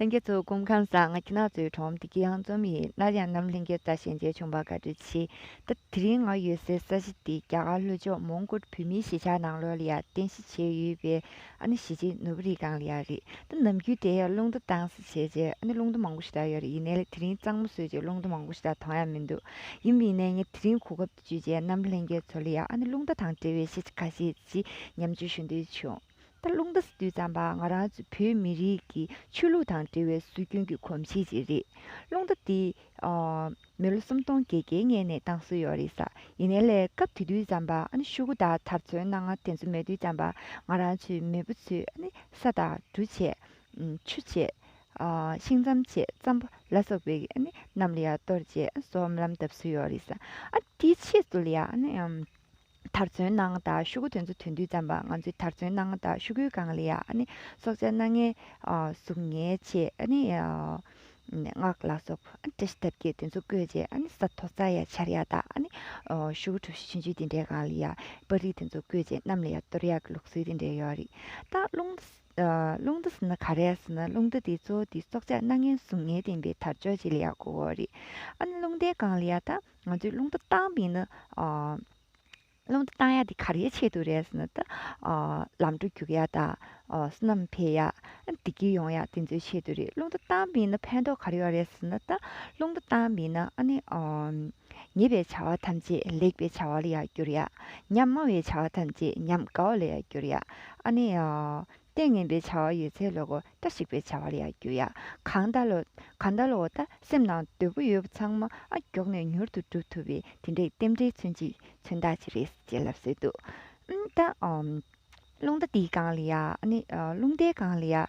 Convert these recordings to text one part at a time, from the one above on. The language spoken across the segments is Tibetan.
ལྷན་རྒྱས་ཚོགས་སྐོམ་ཁང་བཟང་ང་ཁྱི་ནག་ཚོའི་གྲོང་འདི་ཀྱི་ཡང་རྩོམ་ཡིན་སླར་ཡང་ནམ་ལྷན་རྒྱས་རྩ་ཞལ་མཇལ་བྱུང་བར་དགའ་སྤྲོ་ཆེ་ད་དེ་རིང་ང་ཡོད་སའི་ས་གཞི་འདི་རྒྱ་གར་ལྷོ་ཕྱོགས་མོང་གོལ་བོད་མིའི་གཞིས་ཆགས་ནང་ལོར་ལ་ཡར་རྟེན་གཞི་བྱས་ཡོད་པའི་ཨ་ནི་གཞིས་བྱེས་ནོར་བུ་རིའི་སྒང་ལ་ཡར་རེད་ད་ནམ་རྒྱུན་དེ་ཡར་རླུང་རྟ་དྭངས་སེ་བྱས་རྗེས་ཨ་ནི་རླུང་རྟ་མང་པོ་ཞིག་དྭངས་ཡོད་རེད་ཡིན་ནའི་དེ་རིང་གཙང་མོ་བཟོས་རྗེས་རླུང་རྟ་མང་པོ་ཞིག་དྭངས་ཐང་ཡང་མི་འདུག་ཡིན་མིན་ནའི་ངས་དེ་རིང་གོ་སྐབས་འདི་བརྗོད་རྗེས་ནམ་ལྷན་རྒྱས་ཚོ་ལ་ཡང་ཨ་ནི་རླུང་རྟ་དང་འབྲེལ་བའི་ཤེས་བྱ་ཁ་ཤས་ཅིག་ཉམས་ཆུང་ཞུ་འདོད་བྱུང། ད་རླུང་རྟ་སུ་བརྩམས་པ་ང་རང་ཚོ་བོད་མི་རིགས་ཀྱི་ཆོས་ལུགས་དང་འབྲེལ་བའི་སྲོལ་རྒྱུན་གྱི་གོམས་གཤིས་ཅིག་རེད། རླུང་རྟ་འདི་མི་ལོ་སུམ་སྟོང་བརྒྱད་བརྒྱའི་སྔས་ནས་བཏང་སྲོལ་ཡོད་རེད་ས་ཡིན་ནའི་ལས་སྐབས་དེ་དུས་བརྩམས་པ་ཨ་ཤུ་གུ་དག་དར་ཚོན་སྣ་ལྔ་དེ་ཚོ་མེད་དུས་བརྩམས་པ་ང་རང་ཚོའི་མེས་པོ་ཚོས་ས་དང་གྲུ་ཆད། ཆུ་ཆད། ཤིང་ཙམ་ཆད་ཙམ་པོ་ལ་སོགས་པའི་རྣམས་ལ་ཡང་གཏོར་ཆད་སོགས་རྨི་ལམ་གདབ་སྲོལ་ཡོད་རེད་ས། དེའི་ཆེད་དུ་ལ་ཡང། དར་ཚོན་སྣང་དག་ཤུ་གུ་དོན་གཙོ་དོན་བསྡུས་ཙམ་པ་ང་ཚོས་དར་ཚོན་སྣང་དག་ཤུ་གུའི་གངས་ལི་ཡ། སྲོག་ཆགས་སྣ་ལྔའི་གཟུགས་བརྙན་ཆེ། སྔགས་ལ་སོགས་བཀྲ་ཤིས་ཐབས་ཀྱི་དོན་གཙོ་བཀོད་ཅེས་ས་མཐོ་རྩྭ་ཡ་ཆར་ཡ་དག། ཤུ་གུ་གྲུ་བཞི་ཆུན་ཆུའི་དེ་འདྲའི་གངས་ལི་ཡ། པར་རིས་དོན་གཙོ་བཀོད་ཅེས་གནམ་ལི་ཡ་གཏོར་ཡ་གི་ལུགས་སྲོལ་དེ་འདྲའི་ཡོད་རེད། ད་རླུང་རྟ་ཟེར་ན་ག་རེ་ཟེར་ན་རླུང་རྟ་དེ་ཚོ་དེ་སྲོག་ཆགས་སྣ་ལྔའི་གཟུགས་བརྙན་ལྡན་པའི་དར་ལྕོག་ཅིག་ལི་ཡ་གོ་བོ་རེད། རླུང་རྟའི་གངས་ལི་ཡ་དང། ང་ཚོས་རླུང་རྟ་བཏང་པས་ན། རླུང་རྟ་བཏང་ཡག་དེ་ག་རེའི་ཆེད་དུ་རེད་ཟེར་ན་ད། ལམ་འགྲོ་རྒྱུག་ཡག་དང། བསོད་ནམས་འཕེལ་ཡག། བདེ་སྐྱིད་ཡོང་ཡག་དེ་ཚོའི་ཆེད་དུ་རེད་རླུང་རྟ་བཏང་པས་ན་ཕན་ཐོགས་ག་རེ་ཡོད་རེད་ཟེར་ན་ད། རླུང་རྟ་བཏང་པས་ན་ཨ་ནི། ཉེས་པའི་བྱ་བ་ཐམས་ཅད་ལེགས་པའི་བྱ་བ་ལ་ཡང་བསྒྱུར་ཡག། ཉམས་དམའ་བའི་བྱ་བ་ཐམས་ཅད་ཉམས་དགའ་བ་ལ་ཡང་བསྒྱུར་ཡག་ཨ་ནི། ལྟས་ངན་པའི་བྱ་བ་ཡོད་ཚད་ལོ་གོ་ལྟ་ཞིག་པའི་བྱ་བ་ལ་ཡང་འགྱུར་ཡ། གང་ལྟ་ལོ། གང་ལྟ་ལོ་གོ་ལྟ་སེམས་ནང་དོད་པོ་ཡོད་པ་ཚང་མ་ཨ་མགྱོགས་ནས་མྱུར་དུ་འགྲུབ་ཐུབ་པའི་དེ་འདྲའི་རྟེན་འབྲེལ་མཚོན་གྱི་མཚོན་རྟགས་ཅིག་རེད་ཅེས་ལབ་སྲོལ་འདུག་ཨ། རླུང་རྟ་འདིའི་སྒང་ལ་ཡ། རླུང་རྟའི་སྒང་ལ་ཡ།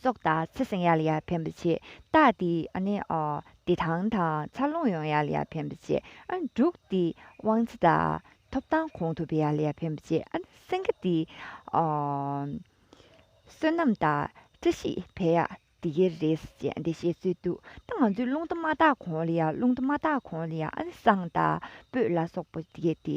སྲོག་དང་ཚེ་བསྲིང་ཡར་ལ་ཡར་འཕེན་པར་བྱེད། རྟགས་འདི་ནི། བདེ་ཐང་དང་འཚར་ལོངས་ཡོང་ཡར་ལ་ཡར་འཕེན་པར་བྱེད། འབྲུག་འདི་དབང་ཚེ་དང་ཐོབ་ཐང་གོང་དུ་འཕེལ་ཡར་ལ་ཡར་འཕེན་པར་བྱེད། སེང་གེ་འདི། བསོད་ནམས་དང་བཀྲ་ཤིས་འཕེལ་ཡར་འདི་གའི་རེད། ཅེས་འདི་བཤད་ཚུལ་འདུག་ད་ང་ཚོའི་རླུང་དུ་མ་དག་གོང་ལ་ཡར་རླུང་དུ་མ་དག་གོང་ལ་ཡར་སྲང་དང་སྤོས་ལ་སོགས་པ་འདི་གའི་དེ།